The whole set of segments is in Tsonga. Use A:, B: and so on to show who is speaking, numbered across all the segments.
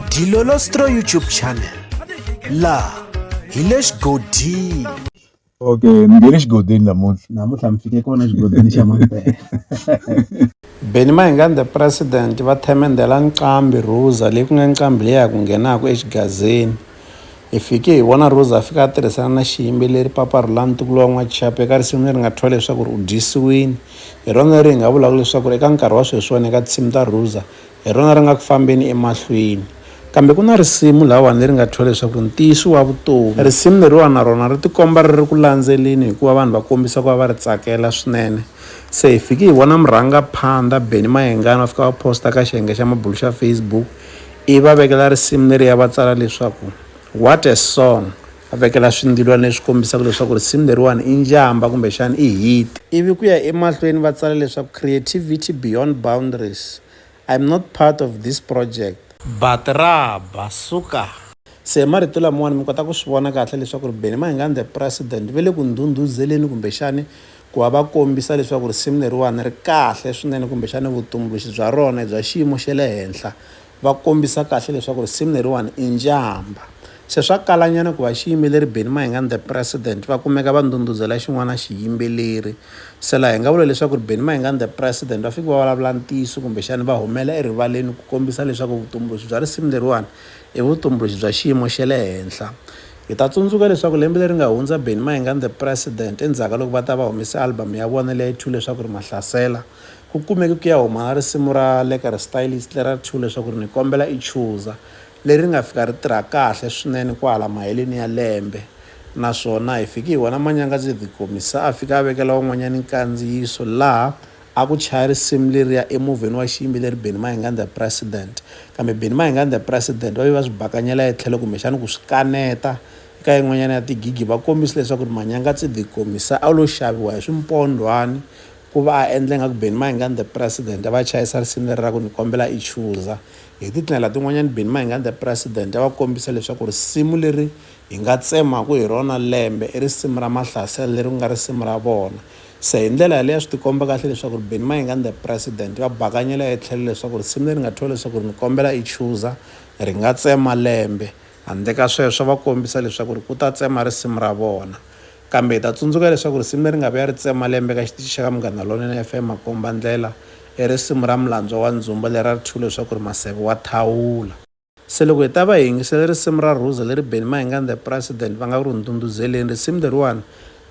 A: Dilolostro YouTube channel laha hi le xigodini okay
B: ni nge le xigodini namuntlha namuntlha mi fike kona xigodini xa mampela
C: Benny Mahingani the president va themendela Nqambi Ruza leyi ku nga Nqambi leyi ya ku nghenaka exigazeni hi fike hi vona Ruza a fika a tirhisana na xiyimbeleri Papa Rhulani Ntukulu wa N'waxapu eka risimu leri nga thyiwa leswaku ri u dyisiwini hi rona leri hi nga vulaka leswaku ri eka nkarhi wa sweswiwani eka tinsimu ta Ruza Hi rona ri nga ku fambeni emahlweni. Kambe ku na risimu lahawani leri nga thyiwa leswaku Ntiyiso wa Vutomi. Risimu leriwani na rona ri tikomba ri ri ku landzeleni hikuva vanhu va kombisa ku va va ri tsakela swinene. Se hi fike hi vona murhangaphandha Benny Mayengani va fika va post-a ka xiyenge xa mabulo xa Facebook ivi va vekela risimu leriya va tsala leswaku, What a song! A vekela swindilwana leswi kombisaka leswaku risimu leriwani i njhamba kumbexana i hit. Ivi ku ya emahlweni va tsala leswaku Creativity Beyond Boundaries, I'm not part of this project. But ra ba, suka! Se marito lamawani mi kota ku swi vona kahle leswaku Benny Mayengani The President ve le ku ndhundhuzeleni kumbexana ku va va kombisa leswaku risimu leriwani ri kahle swinene kumbexana vutumbuluxi bya rona i bya xiyimo xa le henhla. Va kombisa kahle leswaku risimu leriwani i njhamba. Se swa kalanyana ku va xiyimbeleri Benny Mahinga and the President va kumeka va ndhundhuzela xin'wana xiyimbeleri. Se laha hi nga vula leswaku ri Benny Mahinga and the President va fike va vulavula ntiyiso kumbexani va humela erivaleni ku kombisa leswaku vutumbuluxi bya risimu leriwani i vutumbuluxi bya xiyimo xe le henhla. Hi ta tsundzuka leswaku lembe leri nga hundza Benny Mahinga and the President endzhaku ka loko va ta va humese album ya vona leya Two leswaku ri Mahlasela, Ku kumeke ku ya huma risimu ra Leka ra Stylists leri a ri thyiwe leswaku ri ni kombela i chuza, leri ri nga fika ri tirha kahle swinene kwahala maheleni ya lembe naswona hi fike hi vona Manyangadzidzi The Gqomi se a fika a vekela van'wanyana nkandziyiso laha a ku chaya risimu leriya emovheni wa xiyimbeleri Benny Mahingani The President kambe Benny Mahingani The President va ve va swi bakanyela etlhelo kumbexana ku swi kaneta eka yin'wanyana ya tigigi va kombise leswaku Manyangadzidzi The Gqomi se a lo xaviwa hi swimpondhwani Ku va a endla ingaku Benny Mayengani the President, a va a chayisa risimu leri ra ku, Ni Kombela I Chuza. Hi tindlela tin'wanyana Benny Mayengani the President a va kombisa leswaku risimu leri hi nga tsemaku hi rona lembe i risimu ra Mahlasela leri ku nga risimu ra vona. Se hi ndlela yaleyo a swi tikomba kahle leswaku Benny Mayengani the President va bakanyela etlhelo leswaku risimu leri nga thyiwa leswaku Ni Kombela I Chuza ri nga tsema lembe. Handle ka sweswo a va kombisa leswaku ku ta tsema risimu ra vona. Kambe hi ta tsundzuka leswaku risimu leri nga vuya ri tsema lembe eka xitichi xa ka Munghana Lonene FM, Makombandlela, i risimu ra Mulandzwa wa Ndzumba leri a ri thyiwile leswaku ri Maseve wa Thawula. Se loko hi ta va hi yingisele risimu ra Rhuza leri Benny Mahingani The President va nga ku ri ndhundhuzeleni, risimu leriwani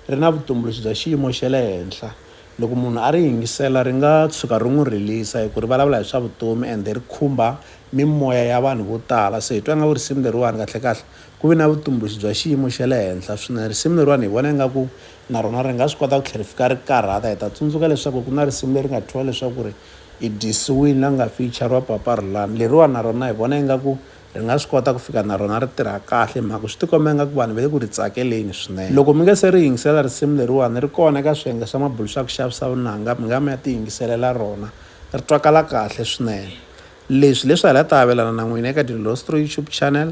C: ri na vutumbuluxi bya xiyimo xa le henhla. Loko munhu a ri yingisela ri nga tshuka ri n'wi rilisa hi ku ri vulavula hi swa vutomi ende ri khumba mimoya ya vanhu vo tala. Se hi twa ingaku risimu leriwani kahle-kahle Ku ve na vutumbuluxi bya xiyimo xa le henhla swinene. Risimu leriwani hi vona ingaku na rona ri nga swi kota ku tlhela ri fika ri karhata. Hi ta tsundzuka leswaku ku na risimu leri nga thyiwa leswaku ri i dyisiwini la nga feyixariwa Papa Rhulani. Leriwani na rona hi vona ingaku ri nga swi kota ku fika na rona ri tirha kahle hi mhaka ku swi tikomba ingaku vanhu va le ku ri tsakeleni swinene. Loko mi nga se ri yingisela risimu leriwani ri kona eka swiyenge swa mabulu swa ku xavisa vunanga mi nga mi ya ti yingiselela rona ri twakala kahle swinene. Leswi hileswi hi la ta avelana na n'wina eka Dilostroy YouTube channel.